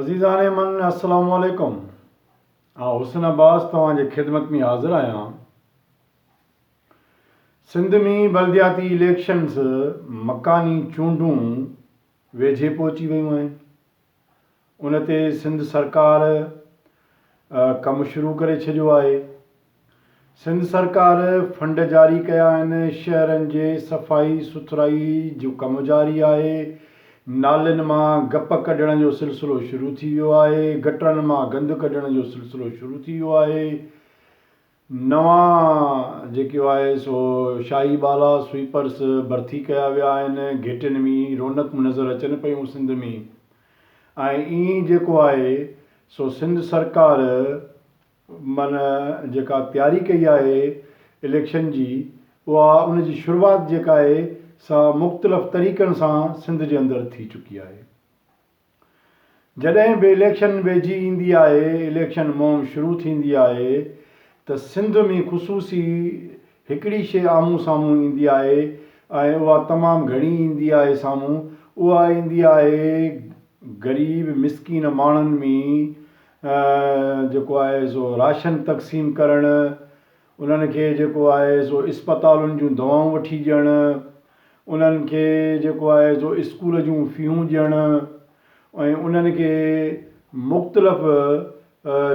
عزيزان من السلام عليڪم آء حسن عباس توهان جي خدمت ۾ حاضر آهيان سنڌ ۾ بلدياتي اليڪشنز مڪاني چونڊون ويجهي پهچي ويون آهن ان تي سنڌ سرڪار ڪم شروع ڪري ڇڏيو آهي سنڌ سرڪار فنڊ جاري ڪيا آهن، شهرن جي صفائي سٿرائي جو ڪم جاري آهي، نالين مان گپ ڪڍڻ جو سلسلو شروع ٿي ويو آهي، گٽرن مان گند ڪڍڻ جو سلسلو شروع ٿي ويو آهي، نوان جيڪو آهي سو شاهي ٻالا، سوئيپرس، ڀرتي ڪيا ويا آهن، گهيٽين ۾ رونقون نظر اچن پيون سنڌ ۾ ۽ ائين جيڪو آهي سو سنڌ سرڪار من جيڪا تياري ڪئي آهي اليڪشن جي اها ان جي شروعات جيڪا آهي سا مختلف طريقن سان سنڌ جي اندر ٿي چڪي آهي جڏهن به اليڪشن ويجهي ايندي آهي اليڪشن مهم شروع ٿيندي آهي ته سنڌ ۾ خصوصي هڪڙي شي آمهون سامهون ايندي آهي ۽ اها تمام گهڻي ايندي آهي سامهون اها ايندي آهي غريب مسڪين ماڻهن ۾ جيڪو آهي سو راشن تقسيم ڪرڻ، انهن کي جيڪو آهي سو اسپتالن جون دوائون وٺي ڏيڻ، انهن کي جيڪو آهي سو اسڪول جون فيون ڏيڻ ۽ انهن کي مختلف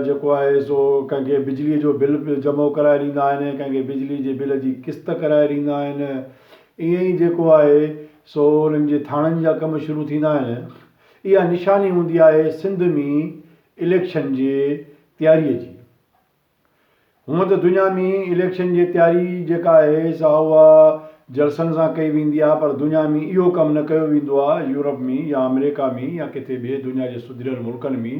جيڪو آهي سو ڪنهن کي بجلي جو بل به جمع ڪرائي ڏيندا آهن ڪنهن کي بجلي جي بل جي قسط ڪرائي ڏيندا آهن ائين ئي جيڪو آهي سو انهن جي ٿاڻن جا ڪم شروع ٿيندا آهن اها نشاني هوندي آهي سنڌ ۾ اليڪشن جي تياري جي. هونء ته دنيا ۾ اليڪشن جي تياري جيڪا آهي سا اها جلسن سان ڪئي ويندي آهي پر دنيا ۾ اهو ڪم نه ڪيو ويندو آهي. يورپ ۾ يا آمريڪا ۾ يا ڪٿي ٻئي دنيا جي سڌريل ملڪن ۾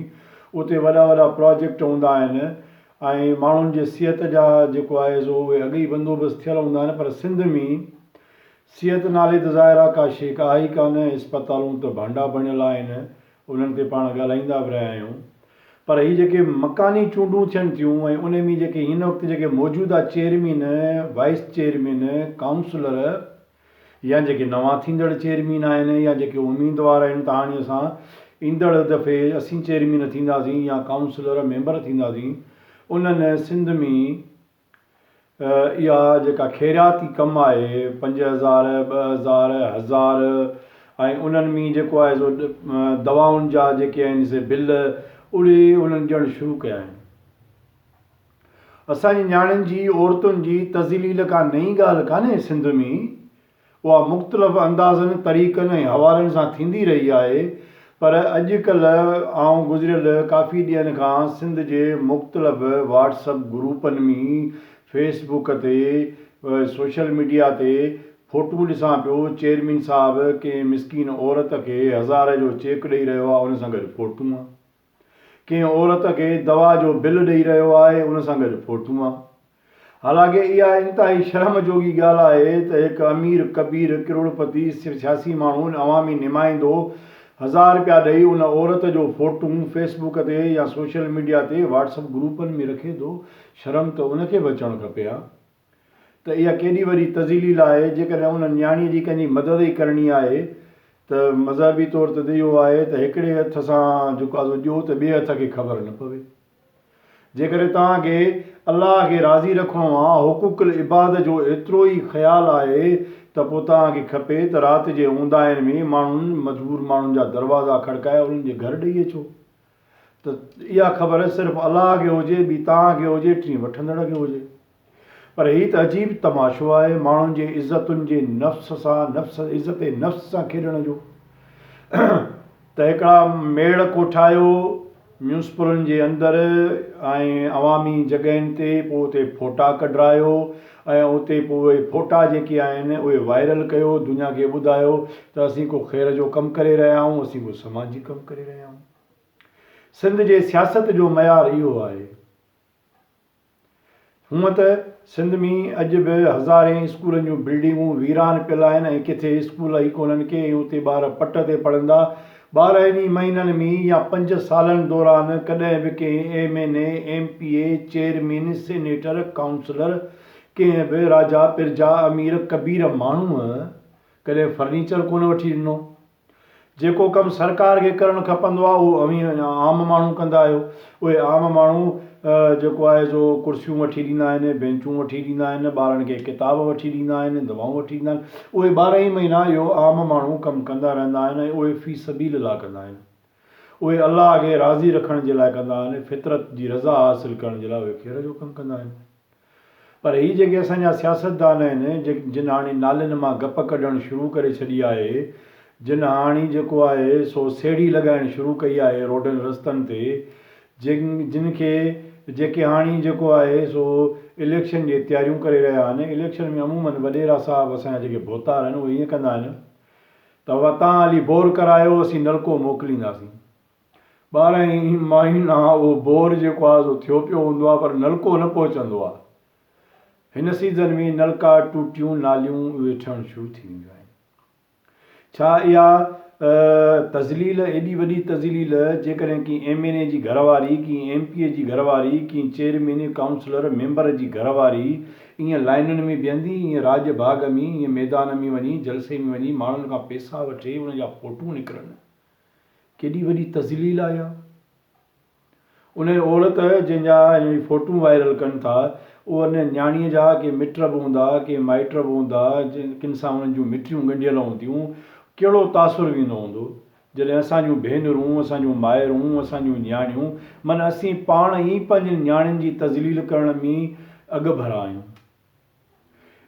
اتي وڏا وڏا پراجيڪٽ هوندا آهن ۽ ماڻهن جي صحت جا جيڪو آهي سو اهي اڳ ئي بندوبست ٿيل هوندا آهن پر سنڌ ۾ صحت نالي ته ظاهرا ڪا شيء ڪا آهي ئي ڪانه، اسپتالون ته ڀانڊا بڻيل آهن، انهن تي پاڻ ڳالهائيندا به رهيا آهيون، پر هي جيڪي مڪاني چونڊون ٿين ٿيون ۽ انهي ۾ جيڪي هن وقت جيڪي موجوده چيئرمين، وائيس چيئرمين، ڪائونسلر يا جيڪي نوان ٿيندڙ چيئرمين آهن يا جيڪي اميدوار آهن ته هاڻي اسان ايندڙ دفعي اسين چيئرمين ٿينداسين يا ڪائونسلر، ميمبر ٿينداسين، انهن سنڌ ۾ اها جيڪا خيرياتي ڪم آهي پنج هزار ٻه هزار هزار ۽ انهن ۾ جيڪو آهي سو دوائن جا جيڪي آهن سي بل اڙي انهن ڏيڻ شروع ڪيا آهن اسان جي نياڻين جي عورتن جي تذليل ڪا نئين ڳالهه ڪانهي سنڌ ۾ اها مختلف اندازن، طريقن ۽ حوالن سان ٿيندي رهي آهي، پر اڄ ڪلهه آئون گذريل ڪافي ڏينهن کان سنڌ جي مختلف واٽس اپ گروپن م فيس بوڪ تي سوشل ميڊيا تي فوٽون ڏسان پيو چيئرمين صاحب ڪنهن مسڪين عورت کي هزار جو چيڪ ڏئي رهيو آهي ان سان گڏ فوٽون ڪنهن عورت کي دوا جو بل ڏئي رهيو آهي ان سان گڏ فوٽون ها حالانڪه اها انتهائي شرم جوڳي ڳالهه آهي ته هڪ امير ڪبير ڪروڙپتي سياسي ماڻهو عوامي نمائندو هزار رپيا ڏئي ان عورت جو فوٽون فيس بوڪ تي يا سوشل ميڊيا تي واٽس اپ گروپن ۾ رکي ٿو شرم ته ان کي به اچڻ کپي ها. ته اها ڪيڏي وڏي تذليل آهي، جيڪڏهن ان نياڻيء جي ڪنهن جي مدد ئي ڪرڻي آهي ته مذهبي طور ته اهو آهي ته هڪڙي هٿ سان جهڪازو ڏيو ته ٻئي هٿ کي خبر نه پوي. جيڪڏهن توهان کي الله کي راضي رکڻو آ، حقوق العباد جو ايترو ئي خيال آهي ته پوء توهان کي کپي ته رات جي اونداهين ۾ ماڻهن، مجبور ماڻهن جا دروازا کڙڪائي انهن جي گهر ڏئي اچو ته اها خبر صرف الله کي هجي، ٻي توهان کي هجي، ٽين وٺندڙ کي هجي. پر هي ته عجيب تماشو آهي ماڻهن جي عزتن جي نفس سان، نفس، عزت نفس سان کيڏڻ جو ته هڪڙا ميڙ ڪوٺايو ميونسپلن جي اندر ۽ عوامي جڳهين تي، پوء اتي ڦوٽا ڪڍرايو ۽ اتي پوء اهي ڦوٽا جيڪي آهن اهي وائرل ڪيو دنيا کي ٻڌايو ته اسين ڪو خير جو ڪم ڪري رهيا آهيون اسين ڪو سماجي ڪم ڪري رهيا آهيون سنڌ جي سياست جو معيار اهو آهي هونء ته سنڌ ۾ اڄ به هزارين اسڪولن جون بلڊنگون ويران پيل آهن ۽ ڪٿي اسڪول ئي ڪونهن ڪي ۽ اتي ٻار پٽ تي پڙهندا ٻارهن ئي مهينن ۾ يا پنج سالن دوران ڪڏهن به ڪنهن M N A, M P A, chairman, senator, councillor, ڪنهن به راجا، پرجا، امير، ڪبير ماڻهوء ڪڏهن فرنيچر ڪونه وٺي ڏنو. جيڪو ڪم سرڪار کي ڪرڻ کپندو آهي اهو اوهين عام ماڻهو ڪندا آهيو. اهي عام ماڻهو جيڪو آهي سو ڪرسيون وٺي ڏيندا آهن، بينچون وٺي ڏيندا آهن، ٻارن کي ڪتاب وٺي ڏيندا آهن، دوائون وٺي ڏيندا آهن، اهي ٻارهن ئي مهينا اهو عام ماڻهو ڪم ڪندا رهندا آهن ۽ اهي في سبيل الله ڪندا آهن. اهي الله کي راضي رکڻ جي لاء ڪندا آهن، فطرت جي رضا حاصل ڪرڻ جي لاء اهي خير جو ڪم ڪندا آهن. پر هي جيڪي اسان جا سياستدان آهن جن هاڻي نالين مان گپ ڪڍڻ شروع ڪري ڇڏي آهي، جن هاڻي جيڪو آهي سو سيڙهي لڳائڻ شروع ڪئي آهي روڊن رستن تي، جن جن کي جيڪي هاڻي جيڪو آهي سو اليڪشن جي تياريون ڪري رهيا آهن، اليڪشن ۾ عمومن وڏيرا صاحب اسان جا جيڪي ڀوتار آهن اهي ائين ڪندا آهن ته وتان علي بور ڪرايو اسين نلڪو موڪلينداسين ٻارهن ئي مهينا اهو بور جيڪو آهي سو ٿيو پيو هوندو آهي پر نلڪو نه پهچندو آهي. هن سيزن ۾ نلڪا، ٽوٽيون، ناليون اهي ٺهڻ شروع ٿي وينديون آهن. ڇا اها تذليل ايڏي وڏي تذليل جيڪڏهن ڪنهن ايم اين اي جي گهر واري، ڪنهن ايم پي اي جي گهر واري، ڪنهن چيئرمين، ڪائونسلر، ميمبر جي گهر واري ائين لائنن ۾ بيهندي، ائين راڄ باغ ۾، ائين ميدان ۾ وڃي، جلسي ۾ وڃي ماڻهن کان پيسا وٺي ان جا فوٽو نڪرن. ڪيڏي وڏي تذليل آهي اها. انهيء عورت جنهن جا هن جي فوٽون وائرل ڪن ٿا، ان نياڻيء جا ڪي مٽ به هوندا، ڪي مائٽ به هوندا، ڪن سان انهن جون مٺيون ڳنڍيل هونديون، ڪهڙو تاثر ويندو هوندو، جڏهن اسان جون ڀينرون، اسان جون مائرون، اسان جون نياڻيون، من اسين پاڻ ئي پنهنجين نياڻين جي تذليل ڪرڻ ۾ اڳڀرا آهيون.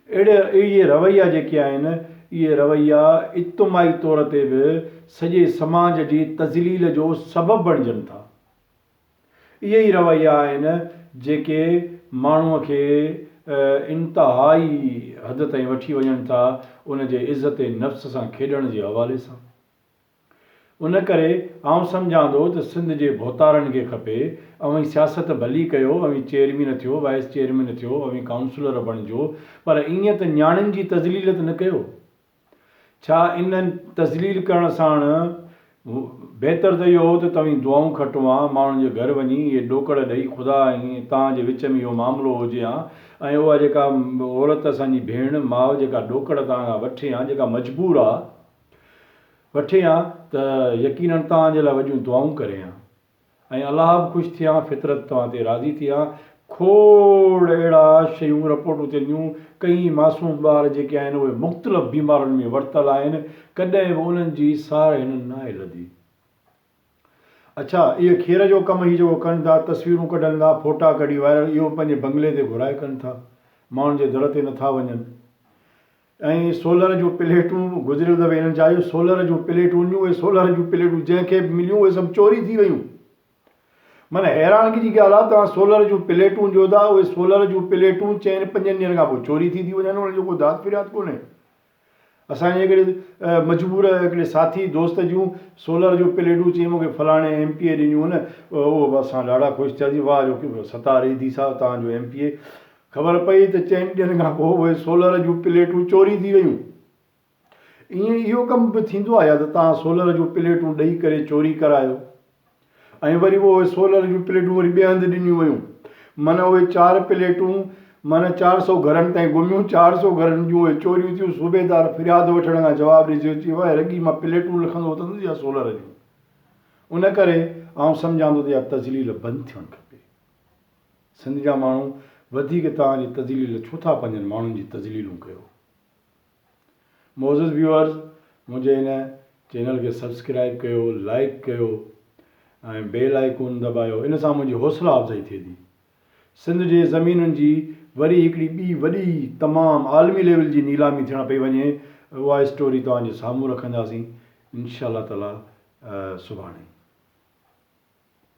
اهڙي اهي رويا جيڪي آهن، اهي رويا اجتماعي طور تي به سڄي سماج جي تذليل جو سبب بڻجن ٿا. اهي ئي رويا آهن جيڪي ماڻهوء کي انتهائي حد تائين وٺي وڃن ٿا ان جي عزت نفس سان کيڏڻ جي حوالي سان. ان ڪري آئون سمجهان ٿو ته سنڌ جي ڀوتارن کي کپي اوهين سياست ڀلي ڪيو اوهين چيئرمين ٿيو وائيس چيئرمين ٿيو اوهين ڪائونسلر بڻجو پر ائين ته نياڻين جي تذليل ته نه ڪيو ڇا ان تذليل ڪرڻ ساڻ بهتر ته اهو هو ته توهين دعائون کٽو هان ماڻهن جي گهر وڃي اهي ڏوڪڙ ڏئي خدا ۽ توهان جي وچ ۾ اهو معاملو هجي هان ۽ اها جيڪا عورت اسان جي ڀيڻ ماء جيڪا ڏوڪڙ توهان کان وٺي هان جيڪا مجبور آ وٺي ها ته يقينن توهان جي لاء وڏيون دعائون ڪري ها ۽ الله به خوش ٿئي ها فطرت توهان تي راضي ٿئي ها کوڙ اهڙا شيون رپورٽون ٿين ٿيون ڪئي معصوم ٻار جيڪي آهن اهي مختلف بيمارين ۾ ورتل آهن ڪڏهن به انهن جي سار هنن ناهي لڌي. اڇا اهي کير جو ڪم هي جيڪو ڪن ٿا تصويرون ڪڍن ٿا ڦوٽا ڪڍي وائرل اهو به پنهنجي بنگلي تي گهرائي ڪن ٿا ماڻهن جي در تي نٿا وڃن ۽ سولر جون پليٽون گذريل دفعي هنن چاهيو سولر جون پليٽون ڏيون اهي سولر جون پليٽون جنهن کي به مليون اهي سڀ چوري ٿي ويون من حيرانگي جي ڳالهه آهي توهان سولر جون پليٽون ڏيو ٿا اهي سولر جون پليٽون چئن پنجن ڏينهن کان پوء چوري ٿي ٿي وڃن انهن جو ڪو داد فرياد ڪونهي اسان جي هڪڙي مجبور هڪڙي ساٿي دوست جون سولر جو پليڊون چيائين مون کي فلاڻي ايم پي اي ڏنيون هن اوهه اسان ڏاڍا خوش ٿياسين واه جو ستار ايڌي صاحب توهان جو ايم پي اي خبر پئي ته چئن ڏينهن کان پوء اهي سولر جون پليٽون چوري ٿي ويون ائين اهو ڪم به ٿيندو آهي يا ته توهان سولر جون پليٽون ڏئي ڪري چوري ڪرايو. ۽ وري اهي سولر جون پليٽون وري ٻئي هنڌ ڏنيون ويون من اهي چار پليٽون من چار سئو گهرن تائين گهميون چار سئو گهرن جون اهي چوريون ٿيون صوبيدار فرياد وٺڻ کان جواب ڏئي چيو چي وهي رڳي مان پليٽون لکندو وتندس يا سولر جون ان ڪري آئون سمجهان ٿو ته يا تذليل بند ٿيڻ کپي سنڌ جا ماڻهو وڌيڪ توهان جي تذليل ڇو ٿا پنهنجن ماڻهن جي تذليلون ڪيو معزز ويوئرز منهنجي هن چينل کي سبسڪرائب ڪيو لائيڪ ڪيو ۽ بيل آئيڪون دٻايو ان سان منهنجي حوصلا افزائي ٿئي ٿي سنڌ جي زمينن جي وري هڪڙي ٻي وڏي تمام عالمي ليول جي نيلامي ٿيڻ پئي وڃي اها اسٽوري توهان جي سامهون رکنداسين انشاء الله تعالي سڀاڻي.